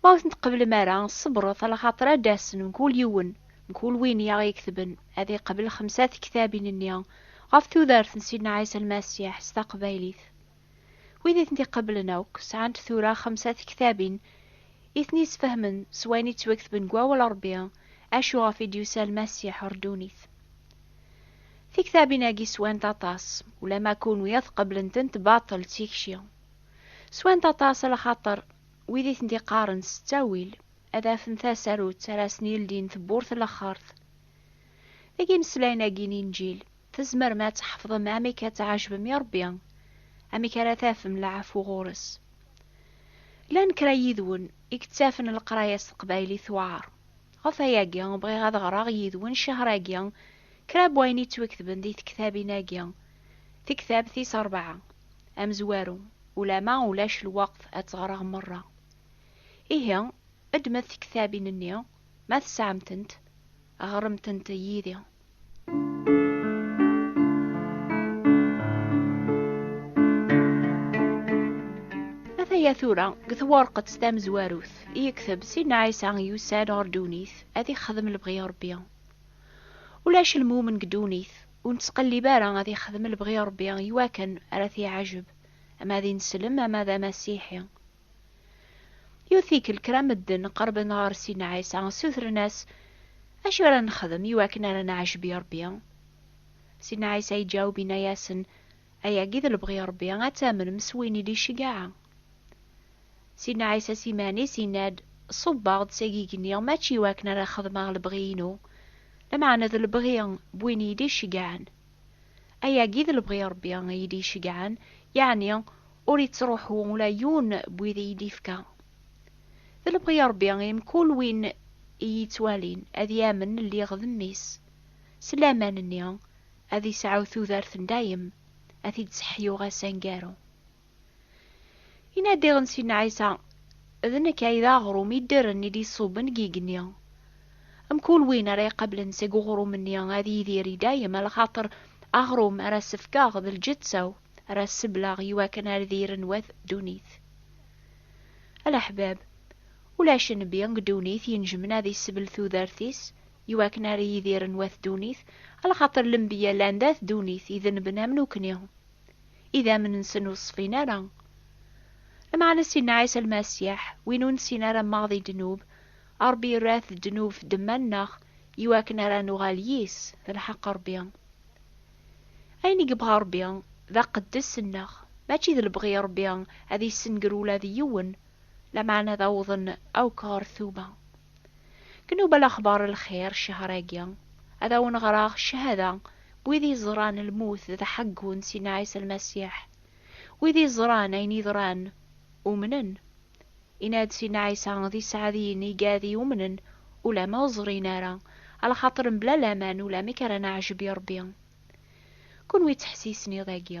Ma ur ten-tqeblem ara, ṣebret, ala xaṭer ad d-asen mkul yiwen, mkul win i aɣ-iketben, ad iqbel xemsa tektabin-nni ɣef tudert n Sidna Ɛisa Lmasiḥ s taqbaylit. Wid i tent-iqeblen akk, sɛant tura xemsa tektabin i ten-isfehmen s wayen i ttwaketben deg Wawal n Ṛebbi, acu ɣef i d-yusa Lmasiḥ ɣer ddunit. Tiktabin-agi swant aṭas, ulamma kunwi ad tqeblent-tent baṭel d tikci. Swant aṭas lxaṭer wid i tent-iqqaren s ttawil ad afen tasarut ara asen-yeldin tewwurt n laxert. Deg imeslayen-agi n Inǧil, tzemrem ad tḥefḍem amek ad tɛejbem i Ṛebbi, amek ara tafem leɛfu ɣur-s. Llan kra yid-wen i yettafen leqraya s teqbaylit tewɛeṛ. Ɣef wayagi, bɣiɣ ad ɣreɣ yid-wen ccehr-agi kra n wayen yettwaketben di tektabin-agi, Tektabt tis ṛebɛa. Amezwaru, Ulama ulac lweqt ad tt-ɣreɣ merra. Ihi, ddmet tiktabin-nni, ma tesɛam-tent, ɣremt-tent yid-i. Ataya tura deg twerqet tamezwarut i yekteb Sidna Ɛisa yusa-d ɣer ddunit ad ixdem lebɣi n Rebbi. Ulac lmumen deg ddunit Ur nettqellib ara ad yexdem lebɣi n Rebbi i wakken ara t-yeɛjeb, ama d ineslem ama d amasiḥi. Yiwet tikkelt kra n medden qerben ɣer Sidna Ɛisa, ssutren-as, Acu ara nexdem i wakken ara neɛjeb i Rebbi? Sidna Ɛisa yeǧaweb yenna-yasen, Ayagi d lebɣi n Rebbi, ad tamnem s win i d-iceggeɛ. Sidna Ɛisa s iman-is yenna-d, Ṣubbeɣ-d s agigenni mačči i wakken ara xedmeɣ lebɣi-inu, lameɛna d lebɣi n win i yi-d-iceggɛen. Ayagi d lebɣi n Ṛebbi i yi-d-iceggɛen, yeɛni ur ittṛuḥu ula yiwen n wid i yi-d-ifka. D lebɣi n Ṛebbi i mkul win i yi-ittwalin ad yamen lliɣ d Mmi-s, s laman-nni ad isɛu tudert n dayem, ad t-id-sseḥyuɣ ass aneggaru. Yenna-d diɣen Sidna Ɛisa, D nekk ay d aɣrum iddren i d-iṣubben deg yigenni. Mkul win ara iqablen seg uɣrum-nni ad yidir i dayem, lxaṭer aɣrum ara as-fkeɣ d lǧetta-w, ara as-sebleɣ i wakken ar diri n wat ddunit. A leḥbab, ulac nnbi deg ddunit inejmen ad isebl tudert-is i wakken ar yidir n wat ddunit, lxaṭer lenbiya llan d at ddunit, i denben am nukni. idammen-nsen ur ṣfin ara. Lmeɛna Sidna Ɛisa Lmasiḥ, win ur nesin ara maɣ di ddnub, Ṛebbi irra-t d ddnub f ddemma-nneɣ iwakken ara nuɣal yis, d lḥeq Ṛebbi. Ayen i yebɣa Ṛebbi d aqeddes-nneɣ, mačči d lebɣi Ṛebbi ad issenger ula d yiwen, lameɛna ad awḍen akk ɣer tuba. Knubel axbar n lxir ccehṛ-agi, ad awen-ɣreɣ cchada n wid yeẓran lmut d aḥeggu n Sidna Ɛisa Lmasiḥ. Wid yeẓran ayen yeḍran, umnen. Yenna-d Sidna Ɛisa d iseɛdiyen i gad yumnen ulamma ur ẓrin ara, alaxaṭer mebla laman ulamek ara neɛjeb i Ṛebbi. Kunwi ttḥessisen iḍ-agi,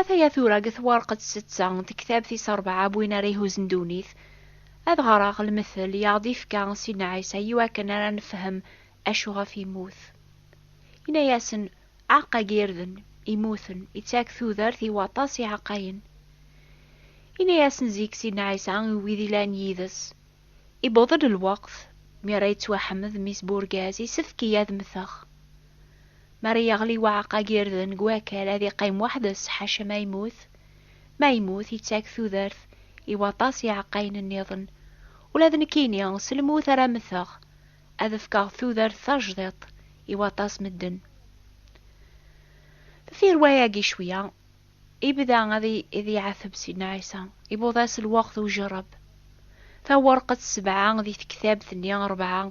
Ataya tura deg twarqet setta n tektabt is rebɛa n win ara ihuzen ddunit, ad ɣreɣ lmetel i aɣ-d-ifka Sidna Ɛisa i wakken ara nefhem acu ɣef yemmut. Yenna-yasen, Aɛeqqa n yirden, immuten, ittak tudert i waṭas n yiɛeqqayen. Yenna-yasen zik Sidna Ɛisa i wid yellan yid-s, Iwweḍ-d lweqt mi ara yettwaḥmed mmi-s n urgaz, yessefk-iyi ad mmteɣ. Mi ara yeɣli uɛeqqa n yirden deg wakal, ad yeqqim weḥd-s, ḥaca ma yemmut. Ma yemmut, yettak tudert i waṭas n yiɛeqqayen nniḍen. Ula d nekkini, s lmut ara mmteɣ, ad fkeɣ tudert tajdiṭ i waṭas n medden. Deffir wayagi cwiya, Ibda ad iɛatteb Sidna Ɛisa, iwweḍ-as lweqt ujerreb. Tawerqet sebɛa di tektabt-nni rebɛa,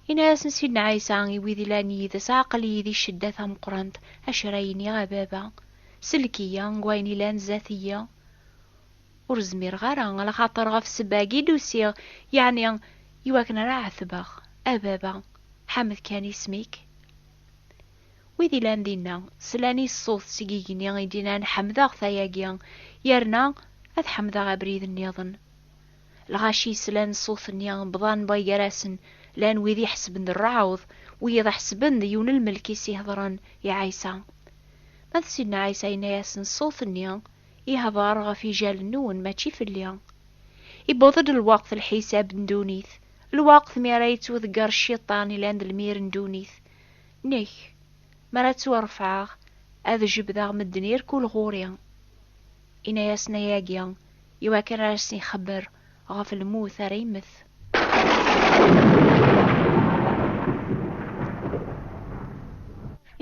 Yenna-yasen Sidna Ɛisa i wid ilan yid-s, Aql-iyi di ccedda tameqqrant, acu ara iniɣ a Baba? Sellek-iyi deg wayen ilan zdat-iyi. Ur zmireɣ ara, alaxaṭer ɣef ssebba-agi i d-usiɣ, yeɛni i wakken ara ɛettbeɣ. A Baba, ḥmed kan isem-ik. Wid ilan dinna, slan i ṣṣut seg igenni i d-inan, Ḥemdeɣ-t ayagi, yerna ad ḥemdeɣ abrid nniḍen. Lɣaci slan ṣṣut-nni, bḍan bay gar-asen, llan wid iḥesben d rreɛḍ, wiyiḍ ḥesben d yiwen lmelk i s-iheḍren i Ɛisa. Ma d Sidna Ɛisa yenna-yasen, Ṣṣut-nni ihdeṛ ɣef ijalen-nwen, mačči fell-i. Iwweḍ-d lweqt lḥisab n ddunit, lweqt mi ara yettweḍger Cciṭan ilan d lmir n ddunit. Nek, mi ara ttwarefɛeɣ, ad jebdeɣ medden irkul ɣur-i. Inna-yasen ayagi i wakken ara asen-ixebber ɣef lmut ara immet.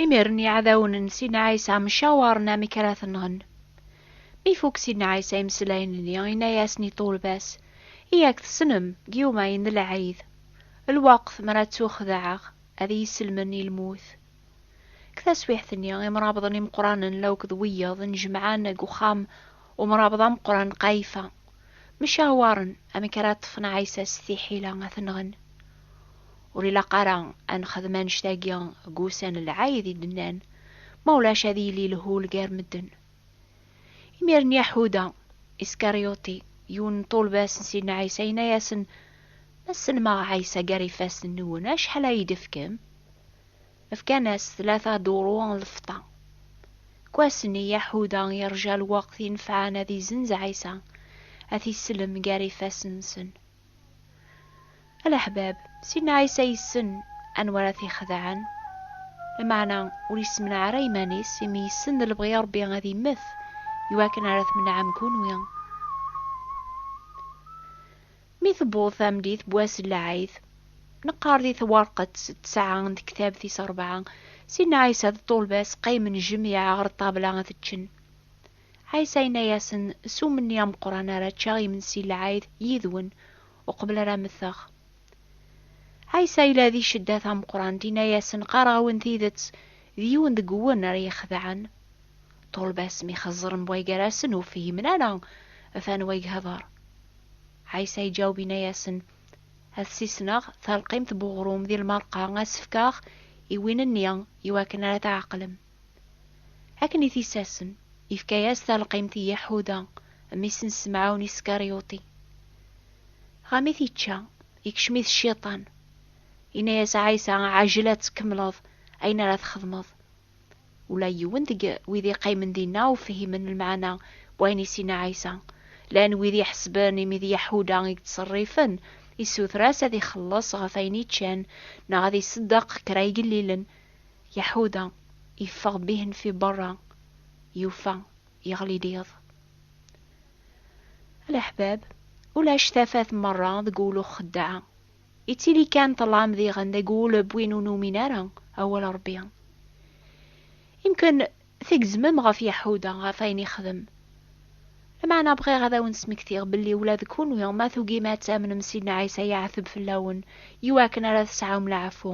Imiren iɛdawen n Sidna Ɛisa mcawaren amek ara t-nɣen. Mi ifuk Sidna Ɛisa imeslayen-nni, inna-yasen i ṭṭulba-s, I ak-tessnem, Gyuma-yi n lɛid, lweqt mi ara ttuxedɛeɣ, ad iyi-sellmen i lmut. Deg taswiɛt-nni, imrabḍen imeqqranen la akked wiyaḍ nnejmaɛen deg uxxam umrabḍ ameqqran n Qayfa, mcawaren amek ara ṭṭfen Ɛisa s tiḥila ad t-nɣen. Ur ilaq ara ad nexdem annect-agi deg wussan n lɛid, i d-nnan, ma ulac ad yili lhul gar medden. Imiren Yaḥuda, Iskaryuṭi, yiwen n ṭulbas n Sidna Ɛisa, yenna-yasen, Ma sellmeɣ Ɛisa gar ifassen-nwen, acḥal ad iyi-d-tefkem? Fkan-as tlata duru n lfeṭṭa. Deg wass-nni, Yaḥuda yerǧa lweqt inefɛen ad izenz Ɛisa, ad t-isellem gar ifassen-nsen. Alaḥbab, Sidna Ɛisa yessen anwa ara t-ixedɛen, lameɛna ur yessemneɛ ara iman-is, imi yessen d lebɣi n Ṛebbi ad immet i wakken ara tmenɛem kunwi. Mi tewweḍ tameddit n wass n lɛid, neqqar di twerqet ttesɛa n tektabt tis ṛebɛa, Sidna Ɛisa d ṭṭulba-s qqimen jmiɛ ɣer ṭṭabla ad ččen. Ɛisa yenna-yasen, S umenni ameqqran ara ččeɣ imensi n lɛid yid-wen, uqbel ara mteɣ. Ɛisa yella di cedda tameqqrant, yenna-yasen, Qqareɣ-awen tidet, d yiwen deg-wen ara yi-xedɛen. Ṭṭulba-s mi xeẓren way gar-asen, ur fhimen ara ɣef anwa i ihdeṛ. Ɛisa iǧaweb yenna-yasen, Ad sisneɣ talqimt n uɣrum di lmerqa, ad s-fkeɣ i win-nni, iwakken ara tɛeqlem. Akken i t-issasen, ifka-yas talqimt i Yaḥuda, mmi-s n Semɛun Iskaryuṭi. Ɣa mi t-ičča, ikcem-it Cciṭan, inna-yas Ɛisa, Ɛjel ad tkemmleḍ ayen ara txedmeḍ. Ula yiwen deg wid iqqimen dinna ur fhimen lmeɛna n wayen i s-inna Ɛisa. Llan wid iḥesben imi d Yaḥuda i yettṣerrifen, issuter-as ad ixelleṣ ɣef ayen i ččan neɣ ad iṣeddeq kra igellilen, Yaḥuda yeffeɣ bihenfi berra, yufa yeɣli-d iḍ. A leḥbab, ulac tafat merra deg wul uxeddaɛ, yettili kan ṭṭlam diɣen deg wul n win ur numin ara awal Ṛebbi. Imken tgezmem ɣef Yaḥuda, ɣef wayen yexdem. Lameɛna bɣiɣ ad awen-d-smektiɣ belli ula d kunwi ma tugim ad tamnem Sidna Ɛisa yeɛteb fell-awen i wakken ara tesɛum leɛfu.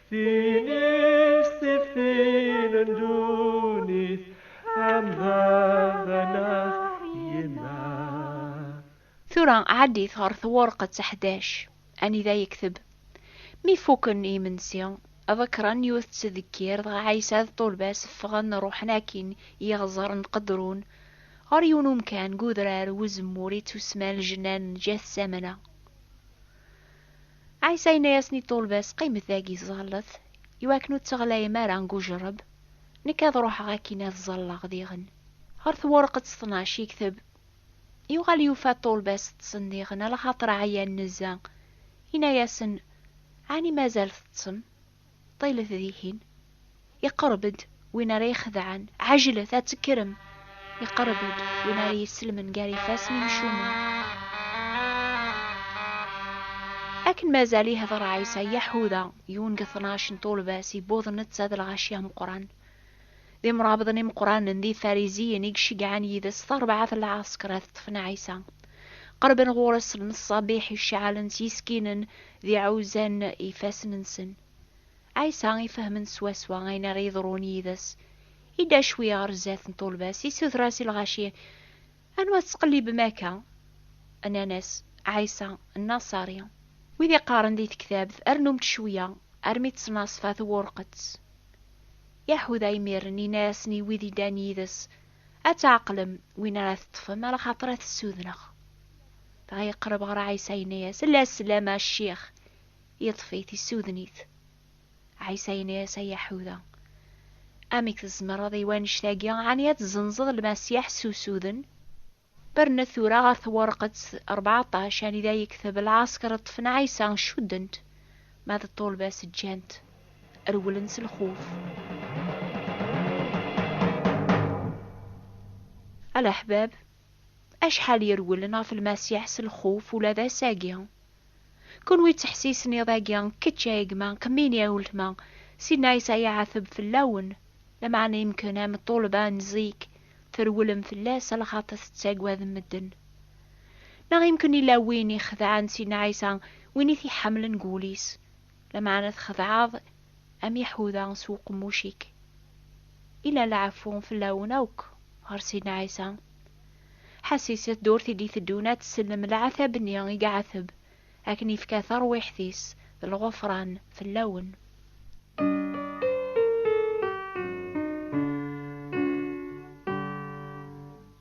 Tin is tiftin n ddunit am baba neɣ yemma. Tura ɛaddit ɣer twurqet ḥdac, anida yekteb, Mi fuken imensi, ḍekren yiwet n tdekkir, dɣa Ɛisa d ṭṭulba-s ffɣen ruḥen akin yiɣẓer n Qedrun, ɣer yiwen umkan deg udrar n uzemmur i ttusemman Ljennan n Ǧetsamana. Ɛisa yenna-yasen i ṭṭulba-s, Qqimet dagi, ẓẓallet, i wakken ur tteɣlayem ara deg ujerreb. Nekk ad ruḥeɣ akkin ad ẓẓalleɣ diɣen. Ɣer twerqet ṭnac yekteb, Yuɣal yufa ṭṭulba-s ṭṭsen diɣen, ala xaṭer ɛyan nezzeh. Yenna-yasen, Ɛni mazal teṭṭsem? Ṭilet dihin. Iqerreb-d win ara ixedɛen. Ɛejlet, ad tekkrem! Iqerreb-d win ara yesselmen gar ifassen imcumen. Akken mazal ihder Ɛisa, Yaḥuda, yiwen deg tnac n tulbas, yewweḍ netta d lɣaci ameqqran. D imrabḍen imeqqranen d Ifariziyen i iceggɛen yid-s tarbaɛt n lɛasker ad ṭṭfen Ɛisa. Qerben ɣur-s lmeṣṣabiḥ iceɛɛlen s yiskinen d iɛuzzan n yifassen-nsen. Ɛisa ifehhmen swaswa ayen ara yeḍrun yid-s, idda cwi ɣer zdat n tulba-s, issuter-as i lɣaci Anwa tettqellibem akka? Nnan-as, Ɛisa, Nnaṣari. Wid iqqaren di tektabt, Rnum-d cwiya, armi ţnaṣfa twurqeţ. Yaḥuda imir-n inna-yasen i wid iddan yid-es, Ad tɛeqlem win ara teṭṭfem, alaxaṭer ad t-ssudneɣ. Dɣa yeqreb ɣer Ɛisa, yenna-yas, Ella sslam a Ccix! Yeṭṭef-it, issuden-it. Ɛisa yenna-yas, Ay Yaḥuda, amek tzemreḍ i wannect-agi, ɛni ad tzenzeḍ Lmasiḥ s usuden? Bernet tura ɣer twerqet rbeɛṭac, anida yekteb, Lɛasker ṭṭfen Ɛisa, cudden-t, ma d ṭṭulba-s ǧǧan-t, rewlen s lxuf. A leḥbab, acḥal i rewlen ɣef Lmasiḥ s lxuf ula d ass-agi! Kunwi ttḥessisen iḍ-agi, kečč a gma, Qmini a uletma, Sidna Ɛisa yeɛteb fell-awen, lameɛna yemken am ṭṭulba n zik, trewlem fell-as lxaṭer tettaggadem medden. Neɣ yemken yella win ixedɛen Sidna Ɛisa, win i t-iḥemmlen deg wul-is. Lameɛna txedɛeḍ am Yaḥuda s uqemmuc-ik. Illa lɛeffu fell-awen akk ɣer Sidna Ɛisa. Ḥasis i tdurt i d-iteddun ad tsellem leɛtab-nni i iɛeteb, akken ifka tarwiḥt-is d lɣufran fell-awen.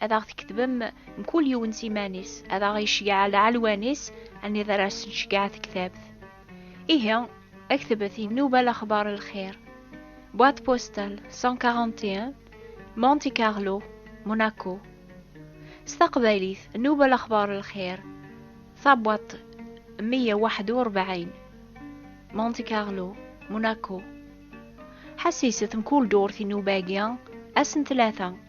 ad aɣ-tkettbem mkul yiwen s iman-is, ad aɣ-iceggeɛ lɛelwan-is, anid ara s-neceggeɛ tektabt. Ihi, aktbet i Nnuba Lexbar Lxir, boîte postale 141, Monte Carlo, Monaco. S taqbaylit, Nnuba Lexbar Lxir, tabwaṭ 141, Monte Carlo, Monaco. Ḥessis-t mkul durt i nnuba-agi, ass n tlata.